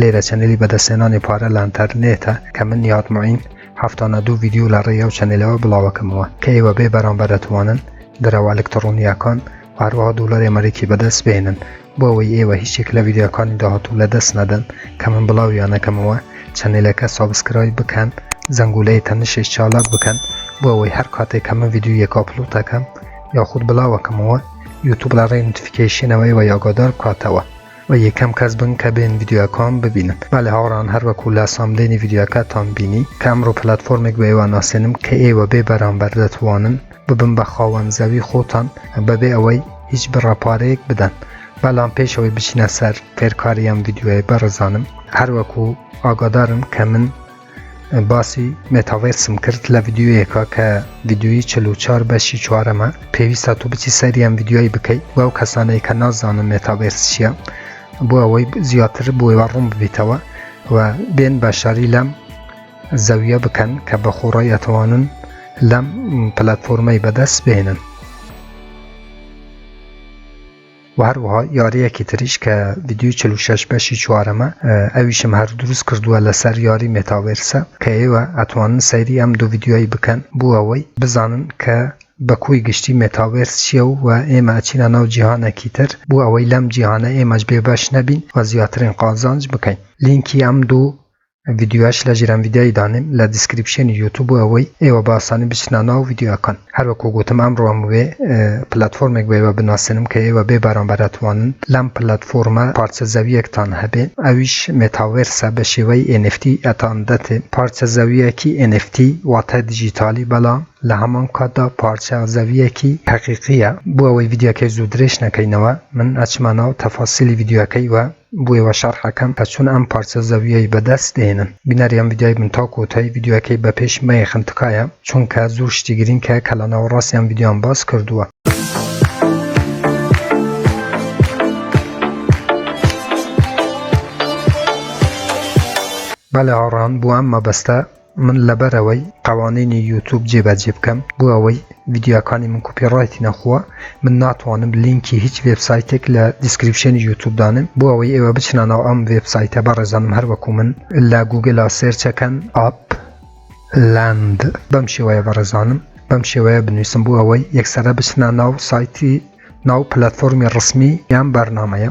لێرە چەنێلی بەدەستهێنانی پارە لە ئەنتەرنێتە کە من نیهاد موعین هەفتانە دوو ڤیدیۆ لە ڕێی ئەو چەنێلەوە بڵاوەکەمەوە کە ئێوە بێ بەرامبەر ئەتوانن دراوە ئەلکتڕۆنییەکان و هەروەها دۆلاری ئەمەریکی بەدەست بهێنن بۆ ئەوەی ئێوە هیچێک لە ڤیدیۆکانی داهاتوو لە دەست نەدەن کە من بڵاویانەکەمەوە چەنێلەکە سابسکرایب بکەن زەنگولەی تەنشش چالاک بکەن بۆ ئەوەی هەر کاتێک کە من ڤیدیۆیەک ئاپلۆتەکەم یاخود بڵاوەکەمەوە یوتوب لە ڕێی نوتفیکەیشنەوە ئێوەی ئاگادار بکاتەوە وە یەکەم کەس بن کە بێن ڤیدیۆکۆم ببینن بەێ هاوڕان هەر وەکو لا ساملێنی ڤیددیوکاتان بینی کام ڕوو پلتفۆرمێک بە ئێوە ناسێنم کە ئێوە بێ بەرامبەر دەتوانن ببم بە خاوەن زەوی خۆتان بەبێ ئەوەی هیچ بڕەپارەیەک بدەن بەڵام پێشەوەی بچینە سەر فێرکاریان ڤیددیوەیە بەڕزانم هەروەکو ئاگادارم کە من باسی مێتاڤێرسم کرد لە ڤیددیویەکە کە ڤیددیوی چل و چوار بەشی چوارەمە پێویستە تۆ بچی سەریان ڤیددیوای بکەیت بۆ ئەو کەسانەی کە نازانن مێتاڤێرس چییە بۆ ئەوەی زیاتر بۆیوە ڕوون ببیتەوە و بێن بەشداری لەم زەویە بکەن کە بە خۆڕای ئەتوانن لەم پلتفۆرمەی بەدەست بێنن و هەروەها یاریەکی تریش کە ویددیوی 46 بەشی چوارەمە ئەویشم هەر دروست کردووە لەسەر یاری مێتاوێرسە کە ئێوە ئەتوانن سەیری ئەم دوو ویددیوی بکەن بۆ ئەوەی بزانن کە بەکۆی گشتی مێتاوێرس چییە و و ئێمە ئەچینە ناو جیهانێکی تر بۆ ئەوەی لەم جیهانە ئێمەش بێبەش نەبین و زیاترین قازانج بکەین لینکی ئەم دوو ڤیدیۆش لە ژیرم ڤیدیۆی دانێم لە دیسکریپشێنی یوتوب بۆ ئەوەی ئێوە بە ئاسانی بچنە ناو ڤیدیۆکان هەر وەکو گوتم ئەمڕۆ ئەموێ پلەتفۆرمێک بۆ ئێوە بناسێنم کە ئێوە بێ بەرامبەر ئەتوانن لەم پلەتفۆرمە پارچە زەویەکتان هەبێ ئەویش مێتاڤێرسە بە شێوەی ئێنێفتی ئەتان دەتێ پارچە زەویەکی ئێنێفتی واتە دیجیتالی بەڵام لە هەمان کاتدا پارچە زەویەکی هەقیقییە بۆ ئەوەی ڤیدیۆکەی زوو درێژ نەکەینەوە من ئەچمە ناو تەفاسیلی ڤیدیۆکەی و بوی وە شەڕح ئەکەم پە چون ئەم پارچە زەویەی بە دەست دێنم بینەر یان ڤیدیۆی بن تا کۆتای ڤیدیۆکەی بە پێش مەیەخن تکایە چونکە زور شتی گرینگ کە کە لە ناوەڕاست یان ڤیدیۆیان باس کردوە. بەلێ هاڕان بۆ ئەم مەبەستە. من لەبەرئەوەی قەوانینی یوتوب جێبەجێ بکەم بۆ ئەوەی ڤیدیۆکانی من کوپی ڕایتی نەخوا من ناتوانم لینکی هیچ وێب سایتێک لە دیسکریپشنی یوتوب دانم بۆ ئەوەی ئێوە بچنە ناو ئەم وێب سایتە بەڕێزانم هەروەکو من لە گوگلا سێرچەکەن ئاپ لاند بەم شێوەیە بەڕێزانم بەم شێوەیە بنووسم بۆ ئەوەی یەکسرە بچنە ناو سایتی ناو پلتفۆرمی ڕسمی یان بەرنمەیە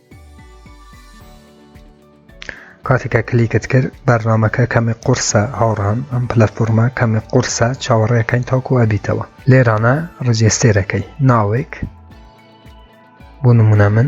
کاتێک کە کلیکت کرد بەرنامەکە کەمی قورسە هاوڕان ئەم پلەفۆرمە کەمی قورسە چاوەڕێەکەین تاکو ئەبیتەوە لێرانە ڕجێستێرەکەی ناوێک بۆ نمونە من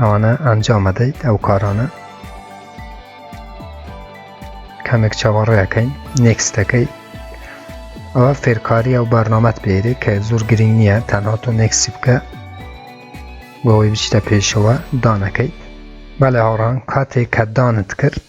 ئەوەنە ئەنجام ئەدەیت ئەو کارانە کەمێک چاوەڕێەکەین نێکستەکەی ئەوە فێرکاری ئەو بەرنامەت بێری کە زۆر گرنگ نییە تەنها تۆ نێکسی بکە بۆەوەی بچتە پێشەوە دانەکەیت بەڵێ هاڕان کاتێک کە دانت کرد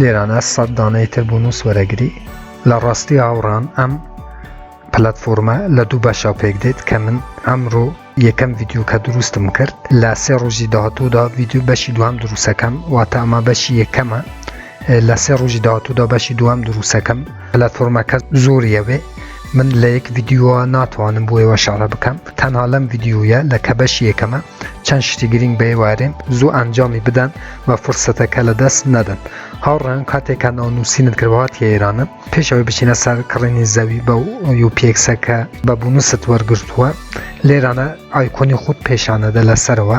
لێرانە سەد دانەی تر بوون و سوەرەگری لە ڕاستی هاوڕان ئەم پلتفۆرمە لە دوو بەشە پێک دێت کە من ئەمڕۆ یەکەم ڤیددیو کە دروستم کرد لە سێ ڕۆژی داهاتوودا ڤیددیو بەشی دوام دروستەکەم واتە ئەمە بەشی یەکەمە لە سێ ڕۆژی داهاتوودا بەشی دوام دروستەکەم لە فۆرمەکە زۆر یەوێ من لە یەک ڤیددیوە ناتوانم بۆ ئێوە شارە بکەم تەنها لەم ڤیددیویە لە کە بەش یەکەمە چەند شتی گرنگ بە ئێوارێن زوو ئەنجامی بدەن و فرسەتەکە لە دەست نەدەن هاوڕێن کاتێکە ناونووسینت کردوات کە ئێرانە پێشەوەی بچینە سەر کڕینی زەوی بە یوپێکسەکە بە بونست وەرگرتووە لێرانە ئایکۆنی خودت پێشانەدە لەسەرەوە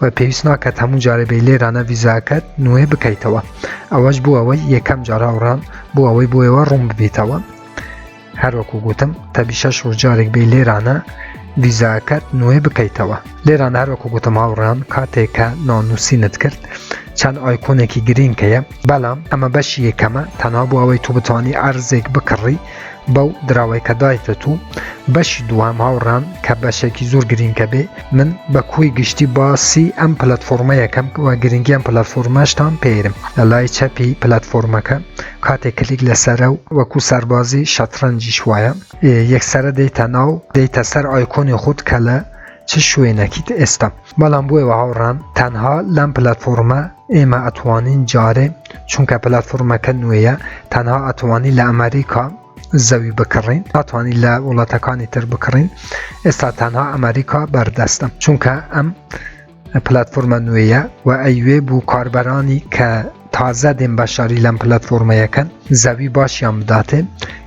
و پێویست ناکات هەموو جارە بێ لێرانە ویزاکەت نوێ بکەیتەوە ئەوەش بوو ئەوەی یەکەم جار هاوڕان بۆ ئەوەی بۆیەوە ڕوون ببیتەوە هەروەکو گوتم تەبی شەش ڕۆژ جارێک بێ لێرانە ویزاکەت نوێ بکەیتەوە لێران هەروەکو گوتم هاوڕان کاتێکە نانووسینت کرد چەند ئایکۆنێکی گرینکەیە بەڵام ئەمە بەشی یەکەمە تەنها بۆ ئەوەی تو بتانی ئەرزێک بکڕی بەو دراوەی کە دایتت و بەشی دووەم هاوڕان کە بەشێکی زۆر گرینگە بێ من بە کوی گشتی باسی ئەم پلتفۆرمەیەکەم وە گرنگی ئەم پلتفۆرمەشتان پێرم لە لای چەپی پلتفۆرمەکە کاتێک کلیک لەسرە و وەکو سەربازی شەترەنجیش وایە یەکسرە دەیتە ناو دەیتە سەر ئایکۆنی خود کە لە چ شوێنەکیت ئێستا بەڵام بۆیەوە هاوڕان تەنها لەم پلتفۆرمە ئێمە ئەتوانین جارێ چونکە پلتفۆرمەکە نوێیە تەنها ئەتوانی لە ئەمریکا زەوی بکڕین ئەتوانی لە وڵاتەکانی تر بکڕین ئێستا تەنها ئەمریکا بەردەستە چونکە ئەم پلتفۆرمە نوێیە و ئەیوێ بوو کاربەرانی کە تازە دێن بەشاری لەم پلتفۆرمەیەکەن زەوی باشیان بداتێ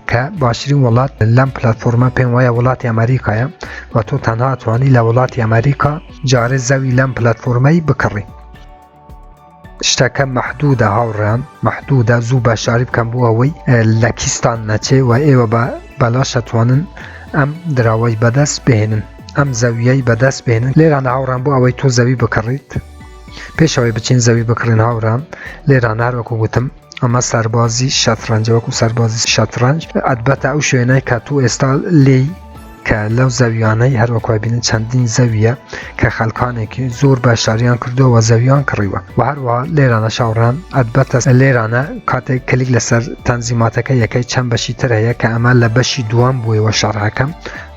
کە باشترین وڵات لەم پلتفۆرمە پێم وایە وڵاتی ئەمریکایە و تۆ تەنها توانی لە وڵاتی ئەمریکا جارێ زەوی لەم پلتفۆرمەی بکڕی شتەکە مەحدوودە هاوڕێیان مەحدوودە زوو بە شاری بکەم بۆ ئەوەی لە کیستان نەچێ و ئێوە بە بەلاش ئەتوانن ئەم دراوەی بەدەست بهێنن ئەم زەویەی بەدەست بێنن لێران هاوڕان بۆ ئەوەی تۆ زەوی بکڕیت پێشەوەی بچین زەوی بکڕین هاوڕان لێران هەروەکو گوتم ئەمە سەربازی شەترەنجە وەکو سەربازی شەترەنج ئەدبەتە ئەو شوێنە کە تو ئێستا لی کە لەو زەویانەی هەروەکوبینن چەندین زەویە کە خەلکانێکی زۆر بە شاریان کردەوە زەویان کڕیوە و هەروە لێرانە شاوڕان ئەدبەتە لێرانە کاتێک کلیک لەسەر تەنزیماتەکە یەکەی چەند بەشی تر هەیە کە ئەمە لە بەشی دوام بووەوە شەڕەکەم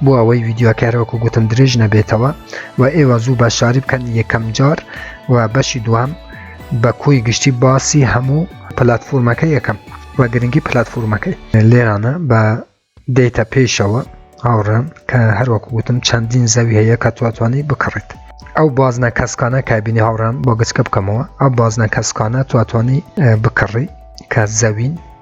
بۆ ئەوەی ویددیوکارەوەکو گوتم درێژ نەبێتەوە و ئێوە زوو بە شاری بکەن یەکەم جار و بەشی دوام بە کۆی گشتی باسی هەموو پلتفۆرمەکە یەکەم و گرنگی پلتفۆرمەکەی لێرانە بە دەیتە پێشەوە هاوڕێن کە هەروەکو وتم چەندین زەوی هەیە کە تواتوانی بکڕیت ئەو بازنە کەسکانە کابینی هاوڕان بۆ گچکە بکەمەوە ئەو بازنە کەسکانە تواتوانی بکڕی کە زەوین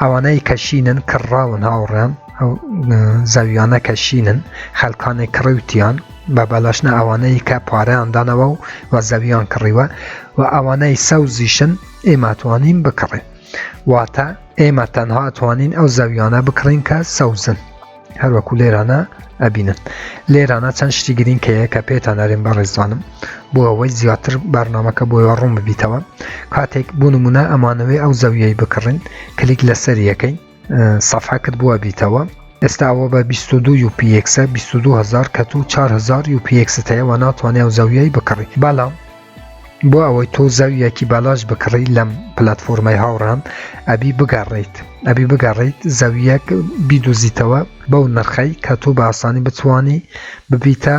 ئەوانەی کە شینن کڕراون هاوڕێن ئەو زەویانە کە شینن خەلکانی کڕیوتیان بە بەلاشنە ئەوانەی کە پارەیاندانەوە و و زەویان کڕیوە و ئەوانەی سەوزیشن ئێماتوانین بکڕێ واتە ئێمە تەنها توانین ئەو زەویانە بکڕین کە سەوزن هەروەکو لێرانە ئەبینن لێرانە چەند شتی گرنگ کەەیە کە پێتان نارێن بە ڕێزوانم بۆ ئەوەی زیاتر بارنامەکە بۆ ڕوون ببیتەوە کاتێک بۆ نمونە ئەمانەوەی ئەو زەویەی بکڕین کلیک لەسەر یەکەی سەفا کرد بووە بیتەوە ئێستاوە بە 22 یوپیکسە 22هزار کە تو 4هزار یوپیکست هەیە و ناتوانێ و زەویەی بکڕی بەڵام بۆ ئەوەی تۆ زەویەکی بالاش بکڕی لەم پلتفۆرمەی هاوڕام ئەبی بگەڕیت ئەبی بگەڕیت زەویەک بیدۆزیتەوە بەو نرخەی کە تۆ بە ئاسانی بتوانی ببیتە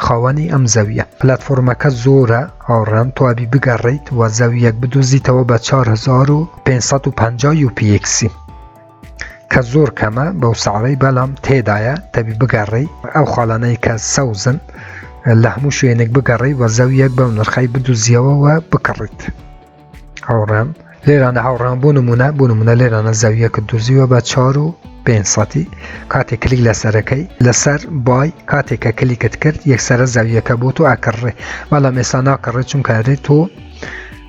خاوەنی ئەم زەویە پلتفۆرمەکە زۆرە هاوڕام تۆ ئەبی بگەڕیت و زەویەک بدۆزیتەوە بە 4550 یوپیکسی کە زۆر کەمە بەو ساڵی بەڵام تێدایە دەبی بگەڕی ئەو خاڵانەی کە سەوزن لە هەموو شوێنێک بگەڕی وە زەویەک بەو نرخی بدوزیەوەوە بکڕیت هاوڕێم لێرانە هاوڕان بۆ نمونە بۆ نمونە لێرانە زەویەکە دزیوە بە چار و پێسەتی کاتێک کلیک لە سەرەکەی لەسەر بای کاتێکە کلیکت کرد یەکسرە زەویەکە بۆ تۆ ئەکڕێ بەڵام ئێستا ناکڕێت چونکارێت تۆ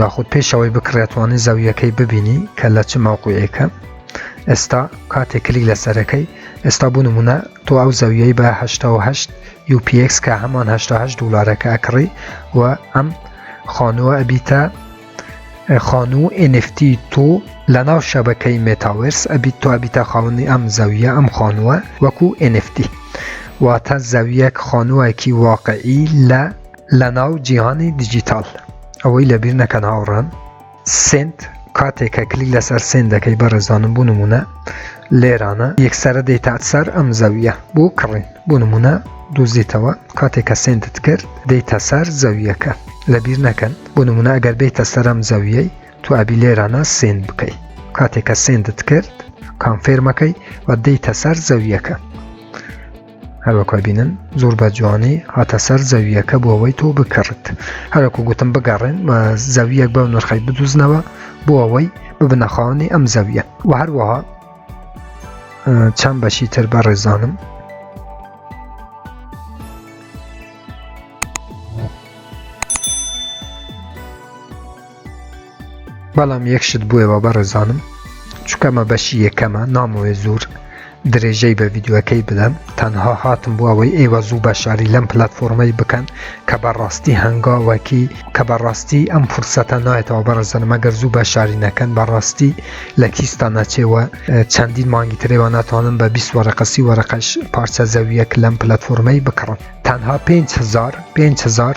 یاخود پێشەوەی بکڕێتوانی زەویەکەی ببینی کە لە چ مەوقوعێکە ئێستا کاتێک کلیک لەسەرەکەی ئێستا بوو نمونە تۆ ئەو زەویەی بە 1970 UPX کە هەمان 1970 دلارەکە ئەکڕی و ئەم خانووە ئەبیتە خانوو NFT تۆ لە ناو شەبەکەی مێتاورس ئەبیت تۆ ئەبیتە خاونی ئەم زەویە ئەم خانووە وەکو NFT واتە زەویەک خانووەکی واقعی لە لە ناو جیهانی دیجیتاڵ ئەوەی لەبیر نەکەن هاوڕان سنت کاتێک کە کلیک لەسەر سێن دەکەی بەڕێزانم بوو نمونە لێرانە یەکسرە دەیتات سەر ئەم زەویە بۆ کڕین بۆ نمونە دۆزیتەوە کاتێک کە سندت کرد دەیتە سەر زەویەکە لەبیر نەکەن بۆ نمونە ئەگەر بیتە سەرم زەویەی تو ئەبی لێرانە سێن بکەیت کاتێک کە سندت کرد کانفێرمەکەی و دەیتە سەر زەویەکە هەروەکو ئەبینن زۆر بە جوانی هاتە سەر زەوییەکە بۆ ئەوەی تۆ بکڕت هەرەکو گوتم بگەڕێن و زەویەک بەو نرخی بدوزنەوە بۆ ئەوەی ببنەخاونی ئەم زەویە و هەروەها چەند بەشی تر بە ڕێزانم بەڵام یەک شت بووەوە بەڕێزانم چکە مە بەشی یەکەمە نامۆێ زۆر درێژەی بە ڤیددیوەکەی بدەم تەنها هاتم بۆ ئەوەی ئێوە زوو بە شاری لەم پلتفۆرمەی بکەن کە بەڕاستی هەنگاوەکی کە بەڕاستی ئەم فرسەتە نایەتەوە بەڕزنمەگەر زوو بە شاری نەکەن بەڕاستی لە کیستا نەچێوە چەندین مانگی ترێوە ناتوانم بە بیست وەرەقەسی وەرەقەش پارچە زەویەک لەم پلتفۆرمەی بکڕم تەنها 5هزار 5هزار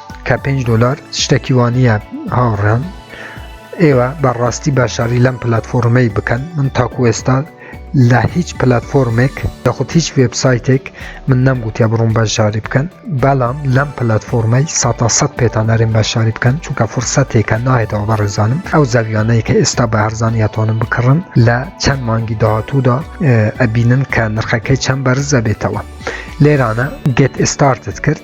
کە پێنج دۆلار شتێکی وانە هاوڕێن ئێوە بەڕاستی باشاری لەم پلتفۆرمەی بکەن من تاکو ئێستا لە هیچ پلتفۆرمێک دەخود هیچ وبسایتێک من نەمگوتیا بڕوم بەشاری بکەن بەڵام لەم پلتفۆرمەی ساتا سەد پێتان نەرێن بەشاری بکەن چونکە فرسەتێکە نایێتەوە بەڕێزانم ئەو زەویانەیە کە ئێستا بە هەرزانیاتوانم بکڕن لە چەند مانگی داهاتوودا ئەبینن کە نرخەکەی چەند بەرزە بێتەوە لێرانە گەت ئستارتت کرد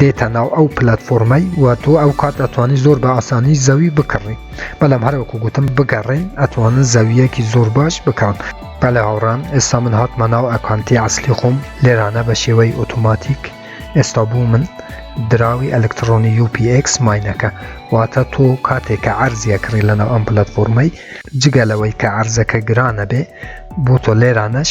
دێتە ناو ئەو پلەتفۆرمەی و تۆ ئەو کات ئەتوانی زۆر بە ئاسانی زەوی بکڕی بەڵام هەروەکو گوتم بگەڕێن ئەتوانن زەویەکی زۆر باش بکڕن. بەڵێ هاوڕام ئێستا من هاتمە ناو ئەکانتی ئەسلی خۆم لێرانە بە شێوەی ئۆتۆماتیک ئێستا بوو من دراوی ئەلکتڕۆنی UPX ماینەکە واتە تۆ کاتێک کە عەرزیە کڕی لەناو ئەم پلەتفۆرمەی جگە لەوەی کە عەرزەکە گرانە بێ بۆ تۆ لێرانەش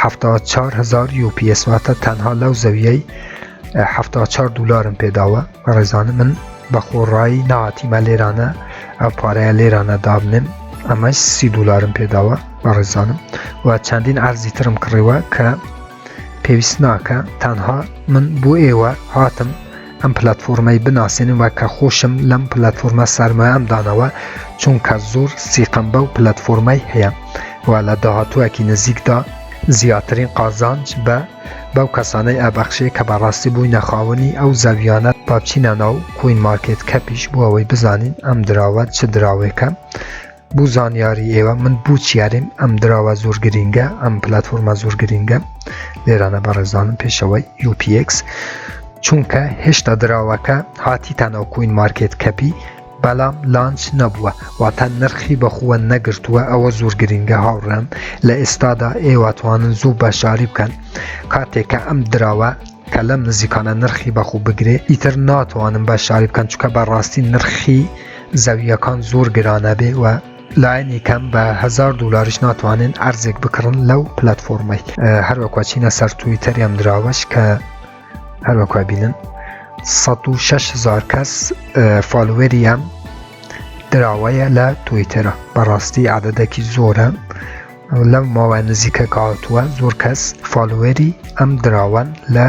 حەفتا چار هزار یۆپیس واتە تەنها لەو زەویەی حەفتا چار دلارم پێداوە ڕێزانە من بە خۆڕایی ناتیمە لێرانە ئەم پارەیە لێرانە دابنێم ئەمە سی دلارم پێداوە بە ڕێزانم و چەندین ئارزی ترم کڕیوە کە پێویست ناکە تەنها من بۆ ئێوە هاتم ئەم پلاتفۆرمەی بناسێنن وە کە خۆشم لەم پلاتفۆرمە سەرمایەم دانەوە چونکە زۆر سیقەم بەو پلاتفۆرمەی هەیە و لە داهاتوەکی نزیکدا زیاترین قازانج بە بەو کەسانەی ئەبەخشێ کە بەڕاستی بووینە خاوەنی ئەو زەویانە بابچینە ناو کوین مارکێت کەپیش بۆ ئەوەی بزانین ئەم دراوە چ دراوێکە بو زانیاری ئێوە من بوو چیاریم ئەم دراوە زۆر گرینگە ئەم پلتفۆرمە زۆر گرینگە لێرانە بەڕێزانم پێشەوەی UPX چونکە هێشتا دراوەکە هاتیتانەوە کوین مارکت کەپی بەڵام لانچ نەبووە واتە نرخی بەخووە نەگرتووە ئەوە زۆر گرینگە هاوڕێم لە ئێستادا ئێواتوانن زوو بەشاری بکەن کاتێکە ئەم دراوە کە لەم نزیکانە نرخی بەخوو بگرێ ئیتر ناتوانم بە شاری بکەن چکە بەڕاستی نرخی زەوییەکان زۆر گران ئەبێ و لایەنی کەم بە هزار دلاریش ناتوانن ئەرزێک بکڕن لەو پلتفۆرمەی هەروەکوە چینە سەر توی تەریان دراوەش کە هەروەکوە بینن 1600 کەس فالوەریان دراوەیە لە تویتەرە بەڕاستی عادەدەکی زۆرە لەم ماوە نزیکە کاتووە زۆر کەس فالوەری ئەم دراوان لە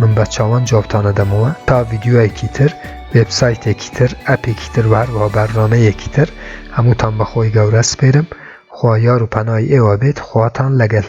من بە چاوان جوابتانە دەمەوە تا ڤیدیۆیەکی تر وێب سایتێکی تر ئەپێکی تر وهروەها بەرنامەیەکی تر هەمووتان بەخۆی گەورە سپێرم خوا یار و پەنای ئێوە بێت خواتان لەگەل.